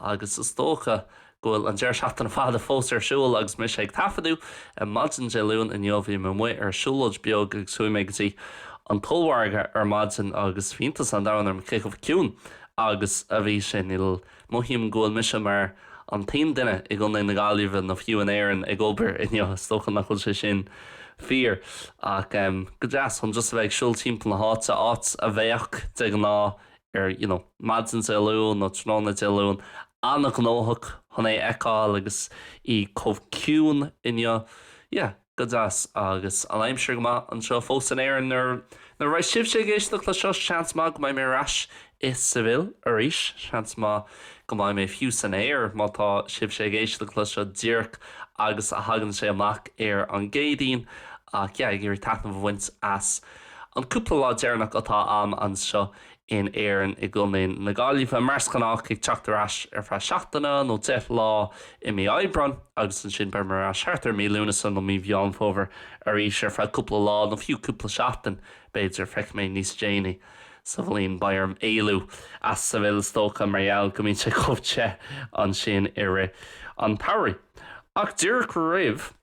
agus is dócha go bhfuil an deireadh seachtaine fada fós ar siúl agus mise ag taifeadadh ar maidin Dé Luain inniu bhí mé amuigh ar siúlóid bheag agus chuaigh mé go dtí an t-ollmhargadh ar maidin agus bhí iontas an domhain orm cé chomh ciúin agus a bhí sé like mothaím go bhfuil mise mar an t-aon duine i gContae na Gaillimhe nó fiú in Éirinn ag obair inniu is dócha nach bhfuil sé sin fíor ach go deas chun just a bheith ag siúl timpeall na háite áit a bheadh de ghnáth ar you know maidin Dé Luain nó tráthnóna Dé Luain, an-ghnóthach chun é a fheiceáil agus í chomh ciúin inniu, yeah, go deas. Agus an aimsir go maith anseo fós in Éirinn, nuair, nuair a bheidh sibhse ag éisteacht leis seo, seans maith go mbeidh mé ar ais i Seville arís, seans maith go mbeidh mé fiú san aer má tá sibhse ag éisteacht leis seo díreach agus a thagann sé amach ar an gCéadaoin, ach yeah, ag iarraidh taitneamh a bhaint as. An cúpla lá deireanach atá agam anseo in Éirinn, i gContae na Gaillimhe, mar is gnách ag teacht ar ais ar feadh seachtaine nó deich lá i mí Aibreáin agus ansin beimid ar ais thart ar mí Lúnasa nó mí Mheán Fómhair arís ar feadh cúpla lá nó fiú cúpla seachtain, b'fhéidir. Feicfidh mé níos déanaí sa bhliain. Beidh orm éalú as Seville is dócha mar gheall go mbíonn sé chomh te ansin i rith an tsamhraidh. Ach díreach roimh.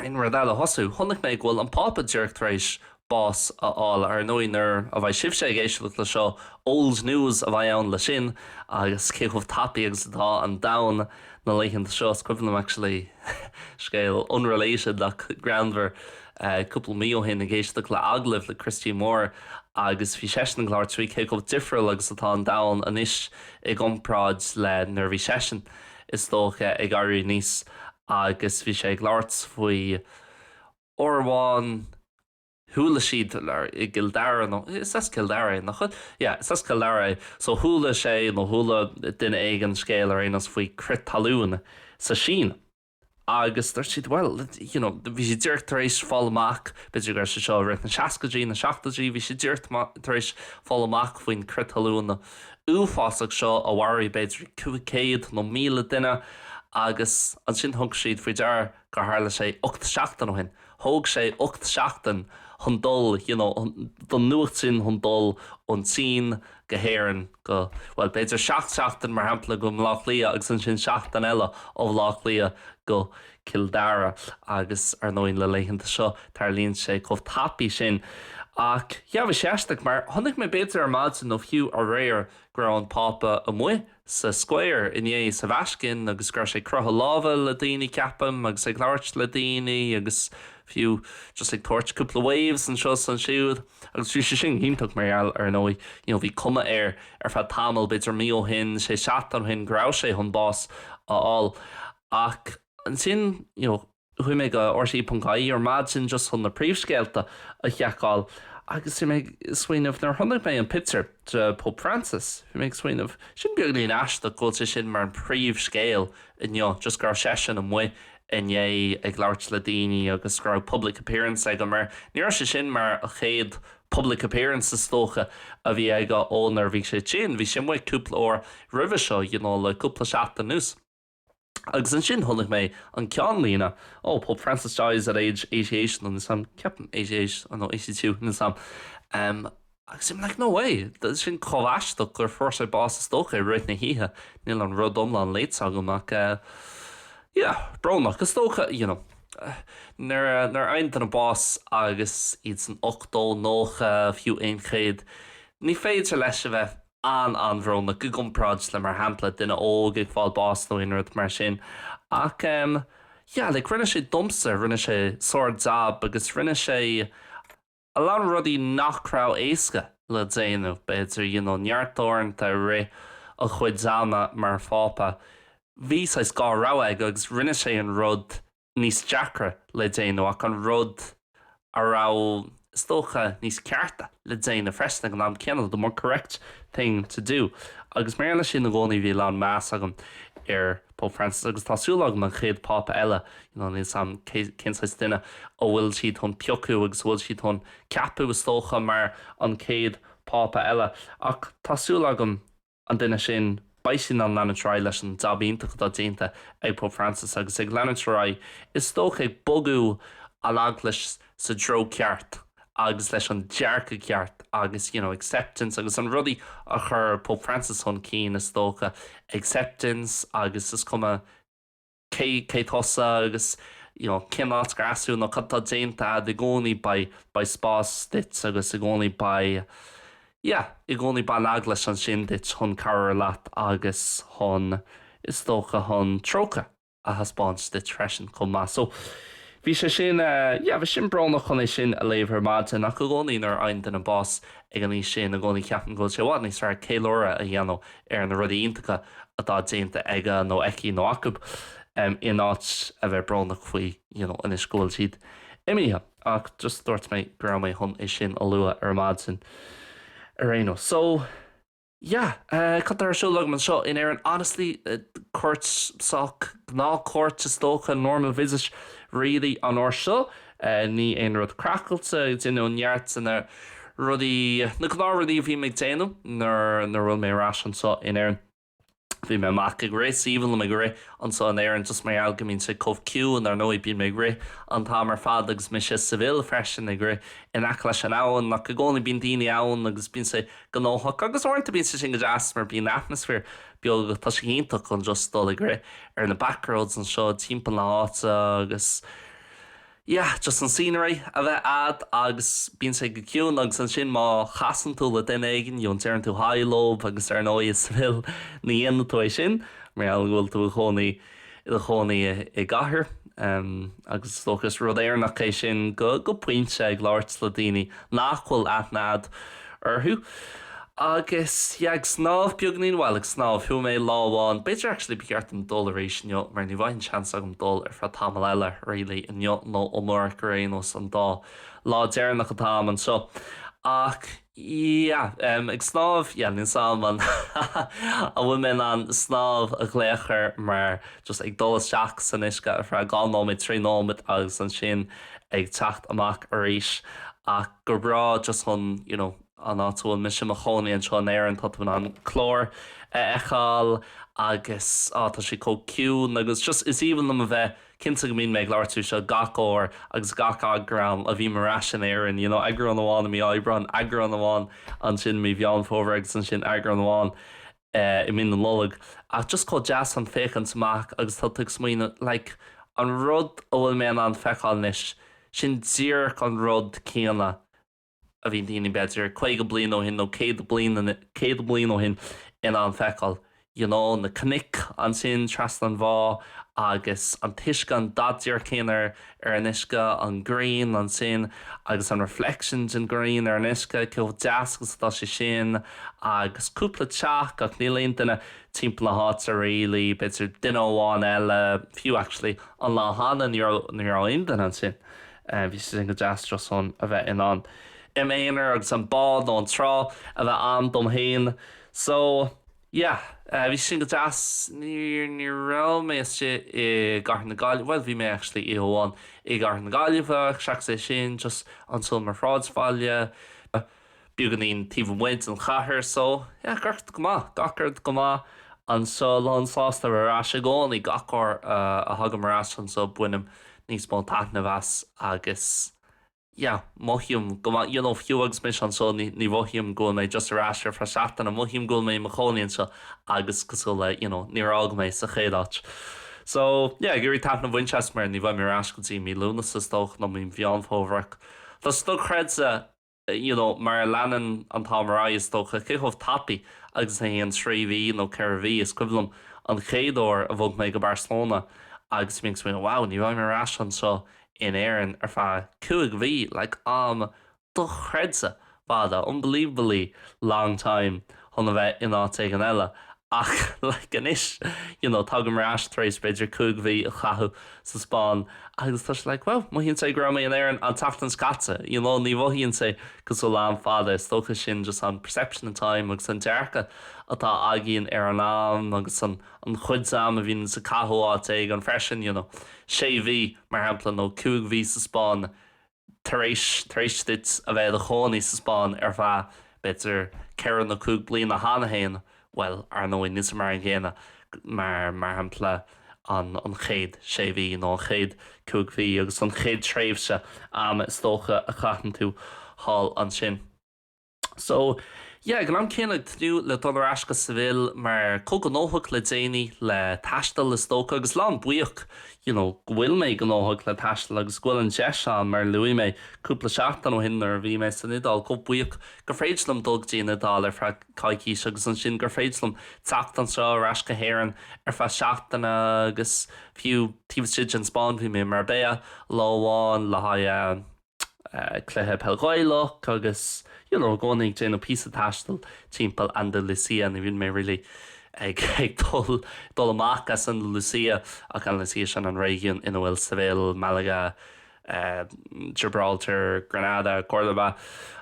aon rud eile a thosú. Chonaic mé go bhfuil an Pápa díreach tar éis bás a fháil. Ar ndóigh, nuair a bheidh sibhse ag éisteacht leis seo, old news a bheidh ann leis sin agus cé chomh tapaidh agus atá an domhan na laethanta seo. Is cuimhin liom actually scéal unrelated ach greannmhar, cúpla mí ó shin ag éisteacht le agallamh le Christy Moore agus bhí seisean ag labhairt faoi cé chomh difriúil agus atá an domhan anois i gcomparáid le nuair a bhí seisean is dócha, ag éirí aníos agus bhí sé ag labhairt faoi uair amháin chuala siad i gCill Dara nó, is as Cill Dara é, nach bhfuil? Yeah, is as Cill Dara é. So chuala sé nó chuala duine éigin scéal ar aon nós faoi crith talún sa Sín agus dúirt siad, bhuel, you know, bhí siad díreach tar éis fáil amach, b'fhéidir go raibh sé seo i rith na seascaidí, na seachtóidí, bhí siad díreach tar éis fáil amach faoin crith talún uafásach seo a mharaigh b'fhéidir 500 nó 1000 duine agus ansin thug siad faoi deara gur tharla sé ocht seachtain ó shin. Thóg sé ocht seachtain chun dul you know don nuacht sin chun dul ón tSín go hÉirinn go bhuel b'fhéidir seacht seachtain mar shampla go Bleá Cliath agus ansin seachtain eile ó Bhleá Cliath go Cill Dara agus ar ndóigh na laethanta seo tarlaíonn sé chomh tapaidh sin ach yeah bhí sé aisteach mar chonaic mé b'fhéidir ar maidin nó fiú aréir go raibh an Pápa amuigh sa Square inné sa Vatican agus go raibh sé ag croitheadh lámha le daoine ceapaim agus ag labhairt le daoine agus fiú just ag tabhairt cúpla waves anseo is ansiúd agus bhí sé sin iontach mar gheall ar ndóigh you know bhí cuma air ar feadh tamall b'fhéidir mí ó shin sé seachtain ó shin go raibh sé chun bás a fháil ach ansin you know Chuaigh mé go RTÉ.ie ar maidin just chun na príomhscéalta a sheiceáil agus bhí mé ag smaoineamh, nuair a chonaic mé an pictiúr de Pope Francis, bhí mé ag smaoineamh, sin beagáinín aisteach go bhfuil sé sin mar an príomhscéal inniu, just go raibh seisean amuigh inné ag labhairt le daoine agus go raibh public appearance aige, mar ní raibh sé sin mar an chéad public appearance is dócha a bhí aige ó nuair a bhí sé tinn, bhí sé amuigh cúpla uair roimhe seo, you know, le cúpla seachtain anuas. Agus ansin chonaic mé an ceann líne, Oh, Pope Francis dies at age 88, nó something, ceapaim, 88 nó 82, nó something. Em, agus I'm like, no way, tá sin chomh aisteach gur fuair sé bás is dócha i rith na hoíche, níl an rud iomlán léite agam ach eh, yeah, brónach, is dócha, you know, nuair a, nuair a fhaigheann duine bás agus iad san 80 nó 90, fiú 100, ní féidir leis a bheith an-an-bhrónach i gcomparáid le mar shampla duine óg ag fáil bás nó aon rud mar sin ach em yeah like rinne sé domsa rinne sé sár jab agus rinne sé a lán rudaí nach raibh éasca le déanamh b'fhéidir you know neart uaireanta i rith a chuid ama mar Phápa bhí saghas dhá rogha aige agus rinne sé an rud níos deacra le déanamh ach an rud a raibh, is dócha, níos cearta le déanamh freisin ag an am céanna, the more correct thing to do. Agus mar gheall air sin i gcónaí bhí a lán meas agam ar Pope Francis agus tá súil agam an chéad Phápa eile, you know, níl 's a'm cé, cén saghas duine a bhfuil siad chun piocadh agus a bhfuil siad chun ceapadh is dócha mar an chéad Phápa eile ach tá súil agam an duine sin, beidh sé in ann leanúint ar aghaidh leis an jab iontach atá déanta ag Pope Francis agus ag leanúint ar aghaidh, is dócha, ag bogadh an Eaglais sa dtreo ceart agus leis an dearcadh ceart agus you know acceptance agus an rudaí a chur Pope Francis chun cinn is dócha acceptance agus is cuma cé cé tusa agus you know cén áit gur as thú nó cad tá déanta a'ad i gcónaí beidh beidh spás duit agus i gcónaí beidh yeah i gcónaí beidh an Eaglais ansin duit chun cabhrú leat agus chun is dócha chun trócaire a thaispeáint duit freisin chomh maith so bhí sé sin eh yeah bhí sin brónach chun é sin a léamh ar maidin ach i gcónaí nuair a fhaigheann duine bás ag an aois sin i gcónaí ceapaim go bhfuil sé i bhfad níos fearr ceiliúradh a dhéanamh ar na rudaí iontacha atá déanta aige nó aici nó acu, in áit a bheith brónach faoi you know anois go bhfuil siad imithe. Ach just dúirt mé go raibh mé chun é sin a lua ar maidin ar aon nós. So yeah, céard atá ar siúl agam anseo in Éirinn? Honestly, cuairt sách, gnáthchuairt is dócha, normal visit really an uair seo. Níl aon rud craiceáilte déanta, neart de na rudaí, na gnáth rudaí a bhíonn mé ag déanamh nuair a bhfuil mé ar ais anseo in Éirinn. Bíonn mé amuigh ag rith, is aoibhinn liom ag rith anseo in Éirinn just mar gheall go mbíonn sé chomh ciúin, ar ndóigh bíonn mé ag rith an t-am ar fad agus mise i Sevilla freisin ag rith in aice leis an abhainn, ach i gcónaí bíonn daoine ann agus bíonn sé gnóthach agus uaireanta bíonn sé sin go deas mar bíonn atmaisféar beoga, tá sé iontach chun just dul ag rith ar na back roads anseo timpeall na háite agus. yeah just an scenery a bheith a'd agus bíonn sé go ciúin agus ansin má chasann tú le duine éigin you know deireann tú haigh leo agus ar ndóigh i Sevilla ní dhéanann tú é sin mar gheall go bhfuil tú i do chónaí i do chónaí i gcathair em agus is dócha is rud Éireannach é sin go go pointe ag labhairt le daoine nach bhfuil aithne a'd orthu. Agus yeah, ag snámh beagainín, bhuel, ag snámh, chuaigh mé lá amháin, b'fhéidir actually ba cheart dom dul arís inniu mar ní bheidh an seans agam dul ar feadh tamall eile really, inniu nó amárach ar aon nós, an dá lá deireanach atá a'm anseo. Ach yeah, em, ag snámh, yeah, níl a fhios a'm an bhfuil mé in ann snámh a ghlaoch air mar just ag dul isteach san uisce ar feadh dhá nóiméad, trí nóiméad agus ansin ag teacht amach arís ach. ach go breá just chun you know an áit a bhfuil mise i mo chónaí anseo in Éirinn tá tú in ann an Clár a fheiceáil agus á tá sé chomh ciúin agus just is aoibhinn liom a bheith cinnte go mbíonn mé ag labhairt faoi seo gach uair agus gach eagrán a mbím ar ais in Éirinn you know eagrán amháin i mí Aibreáin eagrán amháin ansin i mí Mheán Fómhair agus ansin eagrán amháin i mí na Nollag ach just chomh deas ag féachaint amach agus tá tú ag smaoineamh like an rud a bhfuil mé in ann feiceáil anois, sin díreach an rud céanna a bhí daoine b'fhéidir caoga bliain ó shin nó céad bliain, céad bliain ó shin in ann feiceáil, you know, na cnoic ansin trasna an bhá agus an t-uisce, an dath díreach céanna ar. ar an uisce, an ghrian, ansin, agus an reflection den ghrian ar an uisce, cé chomh deas agus atá sé sin, agus cúpla teach, ach níl aon duine timpeall na háite really, b'fhéidir duine amháin eile, fiú actually, an lá cheana ní raibh, ní raibh aon duine ansin, bhí sé sin go deas chun a bheith in ann, im aonar agus an bád nó an trá a bheith a'm dom fhéin, so. Yeah, bhí sin go deas. Ní, ní raibh mé istigh i gCathair na Gaillimhe, bhuel bhí mé actually oíche amháin i gCathair na Gaillimhe, seachas é sin just anso mar shráidbhaile beagáinín taobh amuigh den chathair, so yeah, gach rud go maith, gach rud go maith anso, lán sásta ar ais i gcónaí, gach uair a thagaim ar ais anso bainim níos mó taitnimh as agus yeah mothaím go maith you know fiú agus mise anseo ní ní mhothaím go bhfuil mé just ar ais ar feadh seachtaine mothaím go bhfuil mé i mo chónaí anseo agus cosúil le you know níor fhág mé sa chéad áit so yeah ag iarraidh taitneamh a bhaint as mar ní bheidh mé ar ais go dtí mí Lúnasa is dócha nó mí Mheán Fómhair tá sé dochreidte you know mar a leanann an t-am ar aghaidh is dócha cé chomh tapaidh agus a théann trí mhí nó ceithre mhí is cuimhin liom an chéad uair a bhog mé go Barcelona agus mé ag smaoineamh wow ní bheidh mé ar ais anseo in Éirinn ar feadh cúig mhí, like, am dochreidte fada, unbelievably long time, chun a bheith in áit éigin eile ach, like, anois, you know, tagaim ar ais tar éis b'fhéidir cúig mhí a chaitheamh sa Spáinn agus tá sé, like, well, mothaíonn sé go raibh mé in Éirinn an tseachtain seo caite, you know, ní mhothaíonn sé cosúil le am fada, is dócha sin just an perception of time agus an dearcadh atá againn ar an am agus an an chuid d'am a bhíonn tusa ag caitheamh áit éigin freisin, you know, sé mhí, mar shampla, nó cúig mhí sa Spáinn tar éis, tar éis duit a bheith i do chónaí sa Spáinn ar feadh, b'fhéidir, ceithre nó cúig bliana cheana féin, bhuel, ar ndóigh, níl sé mar an gcéanna, mar, mar shampla, an, an chéad sé mhí nó an chéad chúig mhí agus an chéad tréimhse ama is dócha a chaitheann tú thall ansin. So, yeah, ag an am céanna ag tnúth le dul ar ais go Seville mar chomh gnóthach le déanaí, le taisteal is dócha, agus lán buíoch you know go bhfuil mé gnóthach le taisteal agus go bhfuil an deis ann mar a luaigh mé cúpla seachtain ó shin nuair a bhí mé san Iodáil chomh buíoch gur féidir liom dul go dtí an Iodáil ar feadh coicís agus ansin gur féidir liom teacht anseo ar ais go hÉireann ar feadh seachtaine agus fiú taobh istigh den Spáinn bhí mé i Marbella lá amháin le haghaidh cluiche peil Ghaelach agus you know i gcónaí ag déanamh píosa taistil timpeall Andalucia ní bhíonn mé really ag ag dul dul amach as Andalucia ach Andalucia sin an réigiún ina bhfuil Seville, Malaga, Gibraltar, Granada, Córdoba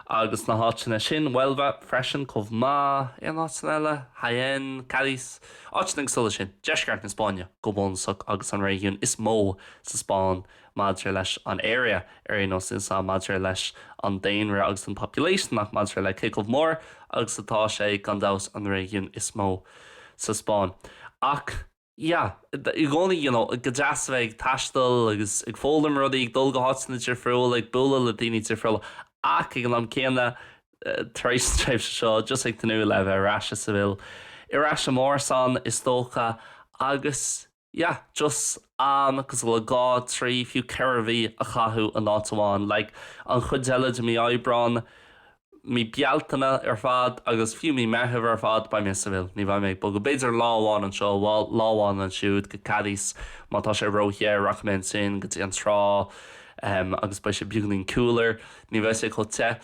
agus na háiteanna sin, Huelva freisin chomh maith, aon áiteanna eile? Jaén, Cádiz, áiteanna cosúil le sin, deisceart na Spáinne go bunúsach agus an réigiún is mó sa Spáinn maidir leis an area, ar aon nós insa maidir leis an daonra agus an population ach maidir le cé chomh mór agus atá sé, gan dabht, an réigiún is mó sa Spáinn. Ach, yeah, i gcónaí, you know, go deas a bheith ag taisteal agus ag foghlaim rudaí, ag dul go háiteanna difriúla, ag bualadh le daoine difriúla ach, ag an am céanna, tar éis an tréimhse seo, just ag tnúth le bheith ar ais i Seville, ar ais i m'árasán, is dócha agus. yeah, just am cosúil le dhá, trí, fiú ceithre mhí a chaitheamh in áit amháin. Like, an chuid eile de mí Aibreán, mí Bealtaine ar fad agus fiú mí Meitheamh ar fad, beidh mé i Seville. Ní bheidh mé ag bogadh. B'fhéidir lá amháin anseo, bhuel, lá amháin ansiúd, go Cádiz, má tá sé ró-the, rachaidh mé ansin, go dtí an trá, em, agus beidh sé beagáinín cooler. Ní bheidh sé chomh te.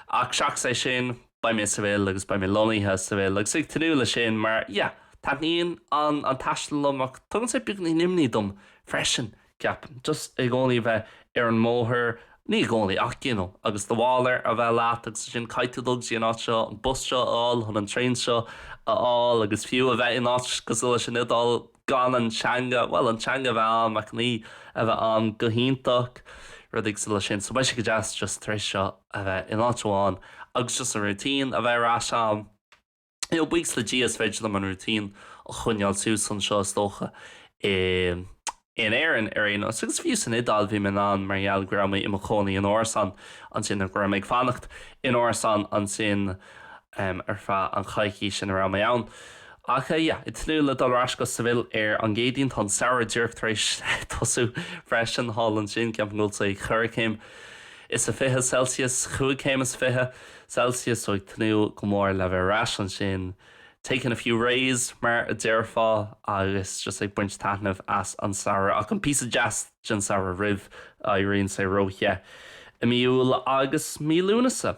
Ach seachas é sin. beidh mé i Seville agus beidh mé lonnaithe i Seville agus ag tnúth leis sin mar yeah taitníonn an an taisteal liom ach tugann sé beagáinín imní dom freisin ceapaim just i gcónaí a bheith ar an mbóthar ní i gcónaí ach you know agus do mhála a bheith leat agus ansin caithfidh tú dul go dtí an áit seo an bus seo a fháil chun an traein seo a fháil agus fiú a bheith in áit cosúil leis an Iodáil gan an teanga, bhuel, an teanga a bheith agam ach ní a bheith ann go hiontach, rudaí cosúil leis sin. So beidh sé go deas just tar éis seo a bheith in áit amháin agus just an routine a bheith ar ais ann. You know, buíochas le Dia is féidir liom an routine a choinneáil suas anseo is dócha i in Éirinn ar aon nós. Agus fiú san Iodáil bhí mé in ann mar gheall go raibh mé i mo chónaí in árasán ansin, go raibh mé ag fanacht in árasán ansin, em ar feadh an choicís ina raibh mé ann ach eh yeah ag tnúth le dul ar ais go Seville ar an gCéadaoin, tá an samhradh díreach tar éis tosú freisin thall ansin, ceapaim go bhfuil sé ag ceithre chéim is a fiche celsius, cúig chéim is fiche celsius so ag tnúth go mór le bheith ar ais ansin taking a few rays mar a déarfá agus just ag baint taitnimh as an samhradh ach an píosa deas den samhradh roimh a éiríonn sé ró the i mí Iúil agus mí Lúnasa.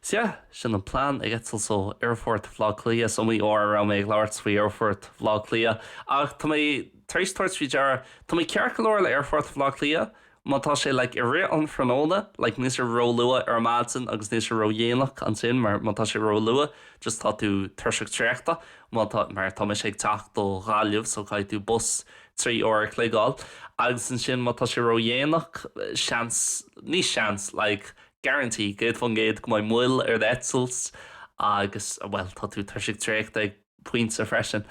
Sea, sin an plean ag eitilt ó Aerfort Bhaile Átha Cliath. Is iomaí uair a raibh mé ag labhairt faoi Aerfort Bhaile Átha Cliath, ach tá mé tar éis tabhairt faoi deara, tá mé ceart go leor le Aerfort Bhaile Átha Cliath má tá sé, like, i rith an thráthnóna, like, níl sé ró-luath ar maidin agus níl sé ró-dhéanach ansin, mar má tá sé ró-luath, just tá tú tuirseach traochta, má tá, mar tá mise ag teacht ó Ghaillimh, so caithfidh tú bus trí uair a chloig a fháil, agus ansin má tá sé ró-dhéanach, seans, ní seans, like, guarantee, 100% go mbeidh moill ar d'eitilt agus, bhuel, tá tú tuirseach traochta ag pointe freisin.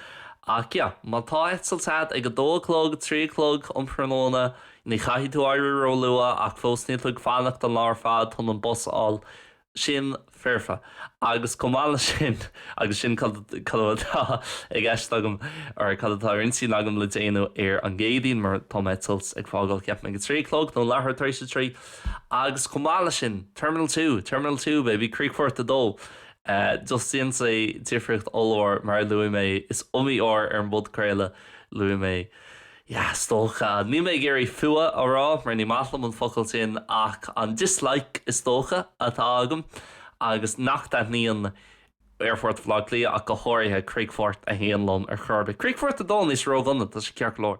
Ach yeah, má tá eitilt agat ag a dó a chlog, a trí a chlog um thráthnóna, ní chaithfidh tú éirí róluath ach fós níl tú ag fanacht an lá ar fad chun an bus a fháil. Sin foirfe. Agus chomh maith leis sin, agus sin cad atá i gceist agam, or cad atá ar intinn agam le déanamh ar an gCéadaoin, mar tá m'eitilt ag fágáil, ceapaim, ag a trí a chlog nó leathuair tar éis a trí, Agus chomh maith leis sin, Terminal Two, Terminal Two, baby, Críochfort a Dó. Just déanann sé difríocht ollmhór, mar a luaigh mé, is iomaí uair ar an bpodchraoladh luaigh mé Yeah, is dócha. Níl mé ag iarraidh fuath a rá, mar ní maith liom an focal sin, ach an dislike, is dócha, atá agam agus nach dtaitníonn Aerfort Bhaile Átha Cliath ach go háirithe Críochfort a hAon liom ar chor ar bith. Críochfort a Dó níl sé ródhona, tá sé ceart go leor.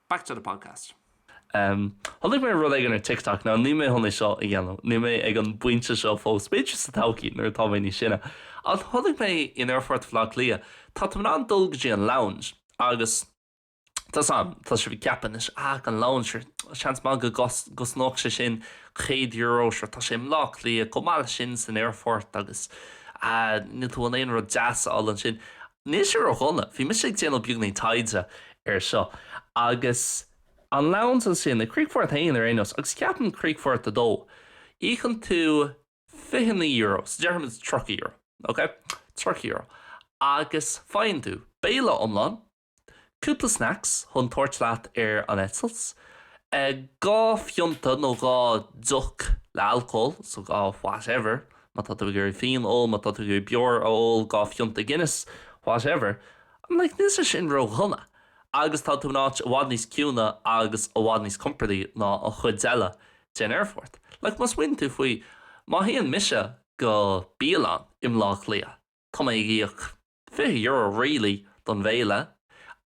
Back to the podcast. Em, chonaic mé rud éigin ar TikTok, now níl mé chun é seo a dhéanamh, níl mé ag an bpointe seo fós, b'fhéidir sa todhchaí nuair atá mé níos sine, ach chonaic mé in aerfort Bhleá Cliath, tá, tá mé in ann dul go dtí an lounge agus tá a fhios agam, tá sibh ag ceapadh anois, ah an lounge, sure, seans maith go gcosnódh sé sin céad euro, sure, tá sé i mBleá Cliath, chomh maith leis sin san aerfort agus ah níl tú chun aon rud deas a fháil ansin Níl sé ródhona, bhí mise ag déanamh beagáinín taighde air seo, agus an lounge ansin, i Críochfort 1 ar aon nós, agus ceapaim Críochfort 2, íocann tú €29, so déarfaimid €30, ok? €30, agus faigheann tú, béile iomlán, Cúpla snacks chun tabhairt leat ar an eitilt. Dhá phionta nó dhá deoch le alcól, so dhá whatever, má tá tú ag iarraidh fíon a ól, má tá tú ag iarraidh beoir a ól, dhá phionta Guinness, whatever. I'm like, níl sé sin ró-dhona. Agus tá tú in áit i bhfad níos ciúine agus i bhfad níos compordaí ná an chuid eile den aerfort. Like, má smaoiníonn tú faoi, má théann mise go bialann i mBleá Cliath, tá mé ag íoc. €20 really don bhéile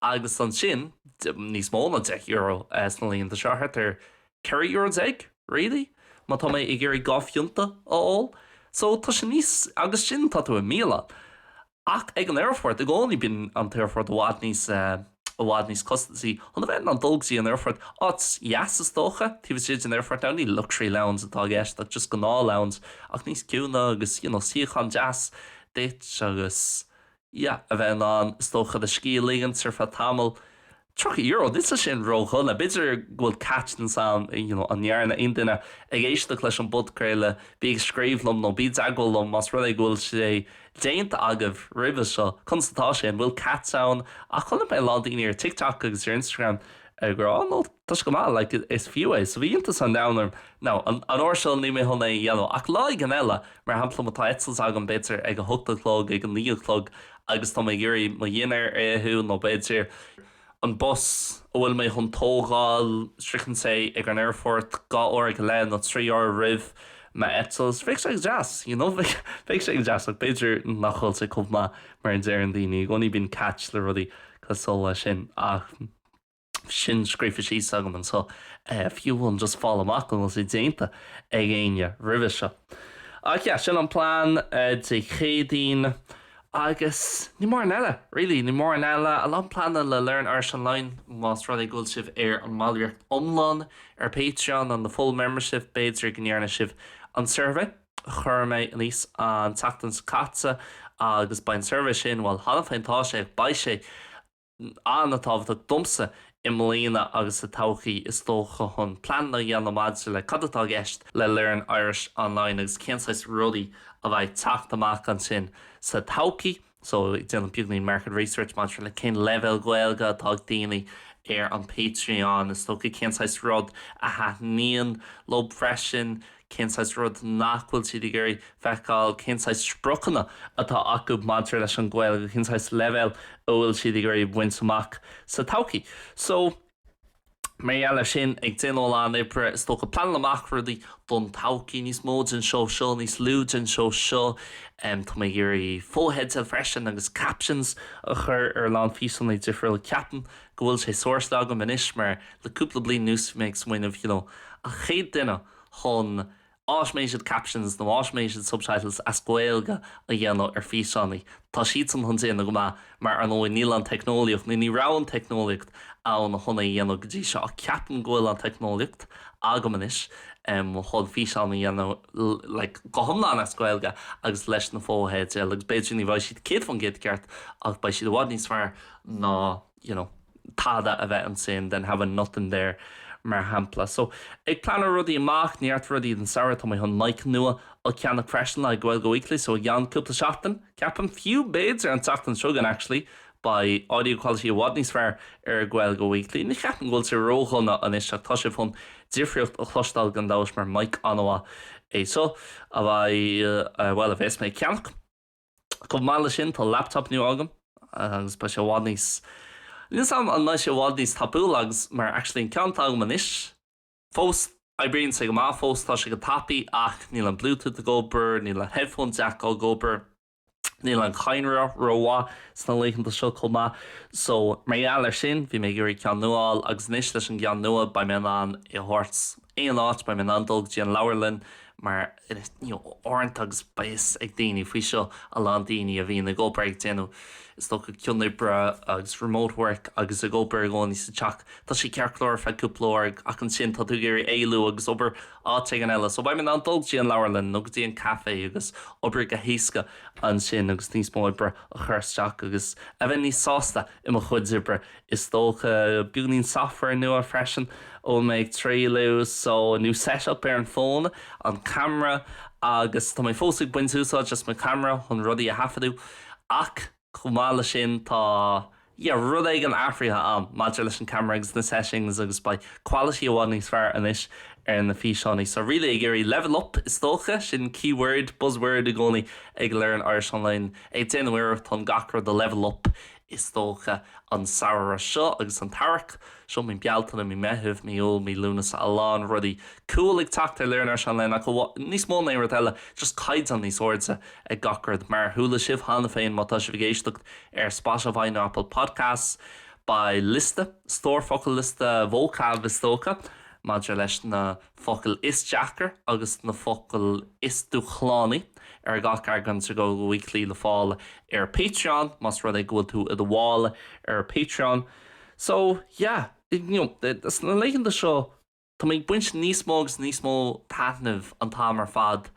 agus ansin níos mó ná €10 sna laethanta seo, thart ar €14 really má tá mé ag iarraidh dhá phionta a ól so tá sé níos, agus sin tá tú i mbialann. Ach ag an aerfort i gcónaí bíonn an t-aerfort i bhfad níos eh. i bhfad níos costasaí chun a bheith in ann dul go dtí an aerfort. Áit dheas is dócha, taobh istigh den aerfort now, ní luxury lounge atá i gceist ach just gnáth lounge ach níos ciúine agus you know suíochán deas duit agus yeah a bheith in ann is dócha do scíth a ligint ar feadh tamaill. Tríocha euro, níl sé sin ródhona b'fhéidir go bhfuil catch ansin you know an ndearna aon duine ag éisteacht leis an bpodchraoladh, bí ag scríobh liom nó bí i dteagmháil liom más rud é go bhfuil sé déanta agaibh roimhe seo, conas atá sé, an bhfuil catch ann? Ach chonaic mé a lán daoine ar TikTok agus ar Instagram ag rá no, tá sé go maith, like, is fiú é. So bhí iontas an domhain orm. Now, an an uair seo ní mé chun é a dhéanamh, ach lá éigin eile, mar shampla má tá eitilt agam b'fhéidir ag a hocht a chlog, ag a naoi a chlog agus tá mé ag iarraidh mo dhinnéar a itheadh nó b'fhéidir, an bus a bhfuil mé chun tógáil, sroicheann sé ag an aerfort dhá uair go leith nó trí uair roimh m'eitilt, so bheadh sé go deas, you know, bheadh sé go deas ach b'fhéidir nach bhfuil sé chomh maith mar a deireann daoine, i gcónaí bíonn catch le rudaí cosúil leis sin ach sin scríofa síos agam anseo, fiú amháin just fáil amach an bhfuil sé déanta ag éinne roimhe seo. Ach yeah, sin an plean Dé Céadaoin. Agus ní mórán eile, really. Ní mórán eile. A lán pleananna le Learn Irish Online, más rud é go bhfuil sibh ar an mballraíocht iomlán ar Patreon, an the full membership, b'fhéidir go ndearna sibh an suirbhé a chuir mé aníos an tseachtain seo caite, agus beidh an suirbhé sin, bhuel, cheana féin tá sé, ach beidh sé, an-tábhachtach domsa i mbliana agus sa todhchaí is dócha chun pleananna a dhéanamh maidir le cad atá i gceist le Learn Irish Online agus cén saghas rudaí a bheidh ag teacht amach ansin sa todhchaí. So ag déanamh beagainín market research maidir le cén leibhéal Gaeilge atá ag daoine ar an Patreon is dócha, cén saghas rud a thaitníonn leo freisin, cén saghas rud nach bhfuil siad ag iarraidh feiceáil, cén saghas spriocanna atá acu maidir leis an Ghaeilge, cén saghas leibhéal a bhfuil siad ag iarraidh baint amach sa todhchaí. So, mar gheall ar sin, ag déanamh a lán oibre, is dócha, pleanáil amach rudaí don todhchaí, níos mó de seo seo, níos lú de seo seo. Tá mé ag iarraidh fotheidil freisin agus captions a chur ar a lán físeanna difriúla. Ceapaim go bhfuil sé sórtáilte agam anois mar. Le cúpla bliain anuas, mé ag smaoineamh, you know, an chéad duine chun automated captions nó automated subtitles as Gaeilge a dhéanamh ar físeáin. Tá siadsan chun déanamh go maith mar, ar ndóigh, níl an teicneolaíocht, nó ní raibh an teicneolaíocht ann chun é a dhéanamh go dtí seo ach ceapaim go bhfuil an teicneolaíocht agam anois chun físeán a dhéanamh like go hiomlán as Gaeilge agus leis na fotheidil agus b'fhéidir ní bheidh siad 100% ceart ach beidh siad i bhfad níos fearr ná you know tada a bheith ansin than having nothing there mar shampla. So ag pleanáil rudaí amach, neart rudaí don samhradh, tá mé chun mic nua a cheannach freisin le haghaidh Gaeilge Weekly so i gceann cúpla seachtain, ceapaim, fiú b'fhéidir an tseachtain seo chugainn actually, beidh audio quality i bhfad níos fearr ar Gaeilge Weekly. Ní cheapaim go bhfuil sé ródhona anois ach tá sibh chun difríocht a chloisteáil gan dabht mar mic an-mhaith é seo a bheidh, bhuel, a bheas mé ag ceannach. Chomh maith leis sin, tá laptop nua agam agus beidh sé i bhfad níos. níos am am beidh sé i bhfad níos tapúla agus mar actually an ceann atá agam anois fós oibríonn sé go maith fós tá sé go tapaidh ach níl an Bluetooth ag obair, níl an headphone jack ag obair, níl an cadhnra ró-mhaith sna laethanta seo chomh maith so mar gheall ar sin bhí mé ag iarraidh ceann nua a fháil agus anois leis an gceann nua beidh mé in ann é a thabhairt aon áit, beidh mé in ann dul go dtí an leabharlann mar you know uaireanta agus beidh fhios ag daoine faoi seo, a lán daoine a bhíonn ag obair ag déanamh is dócha cianoibre agus remote work agus ag obair i gcónaí sa teach, tá sé ceart go leor ar feadh cúpla uair ach ansin tá tú ag iarraidh éalú agus obair áit éigin eile. So beidh mé in ann dul go dtí an leabharlann nó go dtí an café agus obair go héasca ansin agus níos mó oibre a chur isteach agus a bheith níos sásta i mo chuid oibre is dócha, beagáinín software nua freisin a bhfuil mé ag trialladh so a new setup ar an fón, an camera agus tá mé fós ag baint úsáid as mo camera chun rudaí a thaifeadadh ach chomh maith leis sin tá yeah rud éigin athraithe a'm maidir leis an camera agus na settings agus beidh quality i bhfad níos fearr anois ar na físeánaí so really ag iarraidh level up is dócha, sin key word, buzz word i gcónaí ag Learn Irish Online, ag déanamh iarracht chun gach rud a level up i Is dócha an samhradh seo agus an t-earrach seo, mí Bealtaine, mí Meithimh, mí Iúil, mí Lúnasa, a lán rudaí cool ag teacht ar Learn Irish Online ach níos mó ná aon rud eile, just caighdeán níos airde ag gach rud. Mar a chuala sibh cheana féin má tá sibh ag éisteacht ar Spotify nó Apple Podcasts, beidh liosta, stór focal, liosta vocab is dócha, maidir leis na. focail is deacair agus na focail is dúshlánaí ar gach eagrán de Gaeilge Weekly le fáil ar Patreon, más rud é go bhfuil tú i do bhall ar Patreon. So, yeah, you know, sna laethanta seo, tá mé ag baint níos mó agus níos mó taitnimh an t-am ar fad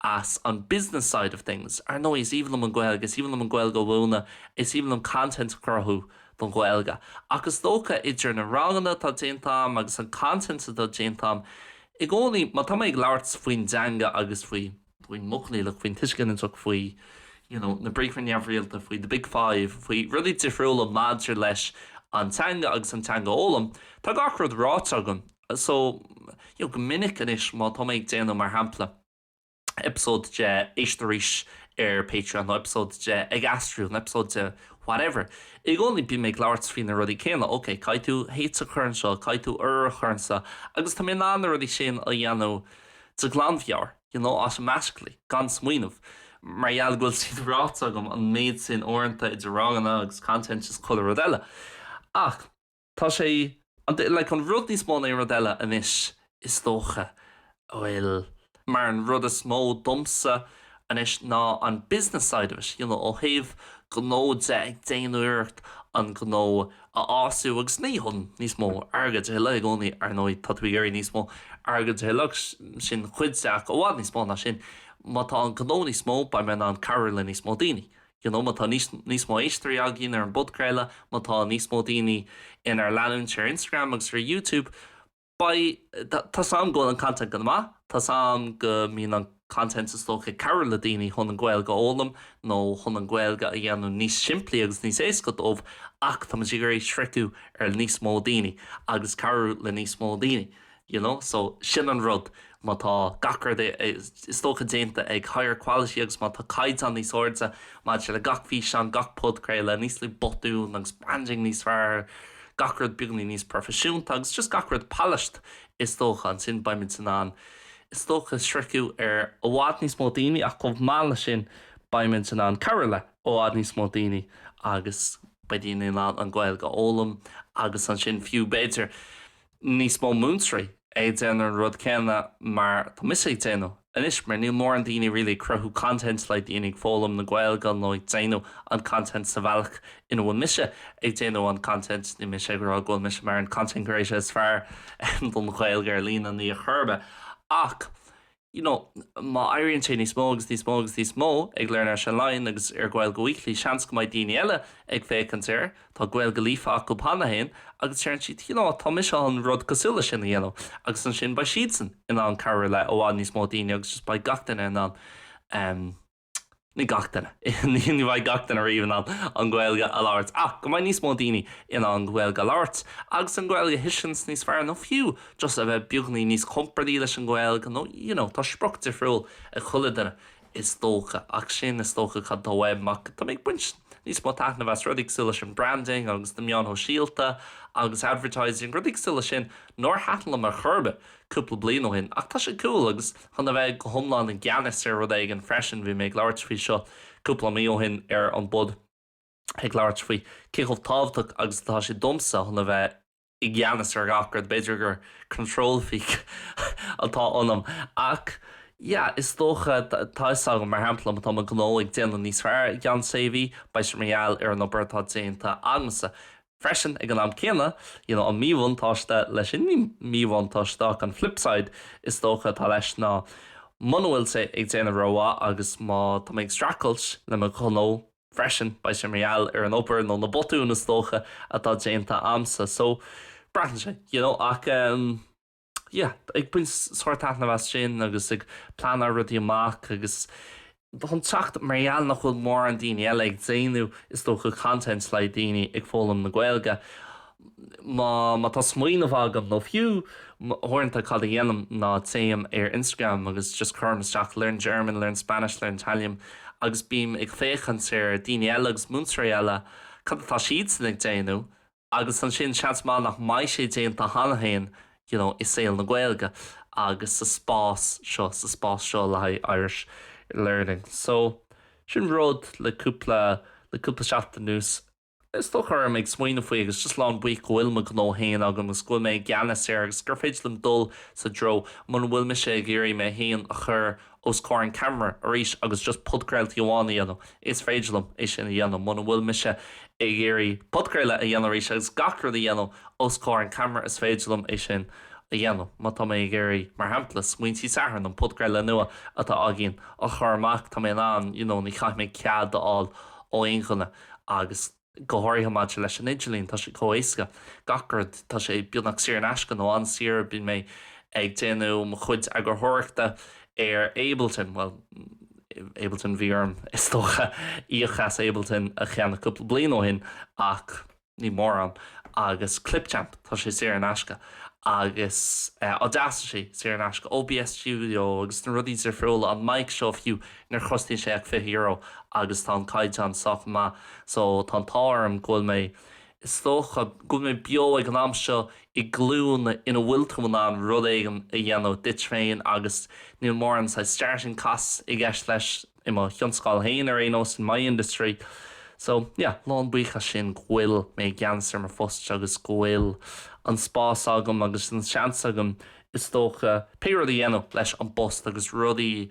as an business side of things. Ar ndóigh, is aoibhinn liom an Ghaeilge, is aoibhinn liom an Ghaeilge a mhúineadh, is aoibhinn liom content a chruthú don Ghaeilge. Ach is dócha, idir na ranganna atá déanta agam agus an content atá déanta agam, i gcónaí, má tá mé ag labhairt faoin dteanga agus faoi, faoin modh coinníollach, faoin tuiseal ginideach, faoi, you know, na briathra neamhrialta, faoi the big five, faoi rudaí difriúla maidir leis an teanga agus an teanga a fhoghlaim, tá gach rud ráite agam. so, you know, go minic anois má tá mé ag déanamh, mar shampla, eipeasóid de Éist Arís ar Patreon nó eipeasóid de Ag Aistriú nó eipeasóid de whatever, i gcónaí bím ag labhairt faoi na rudaí céanna, ok, caithfidh tú h a chur anseo, caithfidh tú urú a chur anso agus tá mé in ann na rudaí sin a dhéanamh de ghlanmheabhair, you know, automatically, gan smaoineamh, mar gheall go bhfuil siad ráite agam an méid sin uaireanta idir ranganna agus content is chuile rud eile. Ach. Tá sé, an, like, an rud níos mó ná aon rud eile anois, is dócha, a bhfuil, mar an rud is mó domsa anois ná an business side of it, you know, ó thaobh gnó de, ag déanamh iarracht an gnó a fhású agus ní chun níos mó airgid a thuilleadh i gcónaí, ar ndóigh, tá tú ag iarraidh níos mó airgid a thuilleadh agus sin cuid de ach i bhfad níos mó ná sin, má tá an gnó níos mó, beidh mé in ann cabhrú le níos mó daoine, You know, má tá níos mó éisteoirí againn ar an bpodchraoladh, má tá níos mó daoine inár leanúint ar Instagram agus ar YouTube, beidh, tá a fhios agam go bhfuil an content go maith, tá a fhios agam go mbíonn an content is dócha ag cabhrú le daoine chun an Ghaeilge a fhoghlaim nó chun an Ghaeilge a dhéanamh níos simplí agus níos éasca dóibh ach táimid ag iarraidh sroicheadh ar níos mó daoine agus cabhrú le níos mó daoine. you know so sin an rud má tá gach rud is dócha déanta ag higher quality agus má tá caighdeán níos airde maidir le gach físeán, gach podchraoladh, níos lú botún agus branding níos fearr, gach rud beagainín níos proifisiúnta agus just gach rud polished is dócha, ansin beimid in ann is dócha sroicheadh ar i bhfad níos mó daoine ach chomh maith leis sin beimid in ann cabhrú le i bhfad níos mó daoine agus beidh daoine in ann an Ghaeilge a fhoghlaim agus ansin fiú b'fhéidir níos mó múinteoirí ag déanamh an rud céanna mar tá mise ag déanamh anois mar níl mórán daoine really ag cruthú content le daoine ag foghlaim na Gaeilge nó ag déanamh an content sa bhealach ina bhfuil mise ag déanamh an content. Níl mise ag rá go bhfuil mise mar an content creator is fearr don Ghaeilge ar líne, ní ar chor ar bith, ach. you know má éiríonn sé níos mó agus níos mó agus níos mó ag Learn Irish Online agus ar Gaeilge Weekly seans go mbeidh daoine eile ag féachaint air, tá Gaeilge líofa acu cheana féin agus deireann siad you know tá mise chun rud cosúil leis sin a dhéanamh agus ansin beidh siadsan in ann cabhrú le i bhfad níos mó daoine agus just beidh gach duine in ann um Ní gach duine. Ní bheidh gach duine riamh in ann an Ghaeilge a labhairt, ach go mbeidh níos mó daoine in ann an Ghaeilge a labhairt, agus an Ghaeilge a thuiscint níos fearr, nó fiú just a bheith beagáinín níos compordaí leis an Ghaeilge, nó you know, tá sprioc difriúil ag chuile duine is dócha, ach sin is dócha cad tá uaim, ach tá mé ag baint níos mó taitneamh as rudaí cosúil leis an branding agus na meáin shóisialta agus advertising, rudaí cosúil leis sin nár thaitin liom ar chor ar bith. cúpla bliain ó shin, ach tá sé cool agus chun a bheith go hiomlán i gceannas ar rud éigin freisin, bhí mé ag labhairt faoi seo cúpla mí ó shin ar an bpod, ag labhairt faoi cé chomh tábhachtach agus atá sé domsa chun a bheith i gceannas ar gach rud, b'fhéidir gur control freak atá ionam ach yeah, is dócha, tá 'fhios agam, mar shampla, má tá mo ghnó ag déanamh níos fearr i gceann sé mhí, beidh sé mar gheall ar an obair atá déanta agamsa. Freisin, ag an am céanna, you know, an míbhuntáiste leis sin, míbhuntáiste ach an flip side is dócha atá leis ná muna bhfuil sé ag déanamh go maith agus má tá mé ag streachailt le mo ghnó freisin beidh sé mar gheall ar an obair nó na botúin is dócha atá déanta a'msa so breathnaíonn sé, you know, ach ehm. yeah ag baint sárthaitneamh as sin agus ag pleanáil rudaí amach agus chun teacht mar gheall nach bhfuil mórán daoine eile ag déanamh is dócha content le daoine ag foghlaim na Gaeilge má má tá smaoineamh agam nó fiú uaireanta cad a dhéanaim ná téim ar Instagram agus just cuirim isteach learn German, learn Spanish, learn Italian agus bím ag féachaint ar daoine eile agus múinteoirí eile cad atá siadsan ag déanamh Agus ansin, seans maith nach mbeidh sé déanta cheana féin you know i saol na Gaeilge agus sa spás seo, sa spás seo le haghaidh Irish learning. So, sin rud le cúpla, le cúpla seachtain anuas, is dócha, a raibh mé ag smaoineamh faoi agus just lán buíoch go bhfuil mo ghnó féin agam agus go bhfuil mé i gceannas air agus gur féidir liom dul sa dtreo muna bhfuil mise ag iarraidh mé féin a chur os comhair an ceamara arís agus just podchraoltaí amháin a dhéanamh, is féidir liom é sin a dhéanamh muna bhfuil mise ag iarraidh podchraoladh a dhéanamh arís agus gach rud a dhéanamh os comhair an ceamara, is féidir liom é sin a dhéanamh má tá mé ag iarraidh, mar shampla, Smaointí Sathairn, an podchraoladh nua atá againn, a chur amach, tá mé in ann, you know, ní chaithfidh mé cead a fháil ó aon cheann agus. go háirithe maidir leis an idirlíon, tá sé chomh héasca, gach rud, tá sé beagnach saor in aisce, nó an-saor, bíonn mé ag déanamh mo chuid eagarthóireachta ar Ableton, bhuel, Ableton, bhí orm, is dócha, íoc as Ableton a cheannach cúpla bliain ó shin, ach níl mórán, agus Clipchamp, tá sé saor in aisce, agus Audacity, saor in aisce, OBS Studio, agus na rudaí difriúla, an mic seo fiú, Níor chosnaíonn sé ach €20 agus tá an caighdeán sách maith so tá an t-ádh orm go bhfuil mé, is dócha, go bhfuil mé beo ag an am seo i glúin ina bhfuil tú in ann rud éigin a dhéanamh duit féin agus níl mórán saghas starting costs i gceist leis, i mo thionscáil féin ar aon nós, in my industry. So, yeah, lán buíoch as sin go bhfuil mé i gceannas ar mo phost agus go bhfuil an spás agam agus an seans agam, is dócha, pé rud a dhéanamh leis an bpost agus rudaí a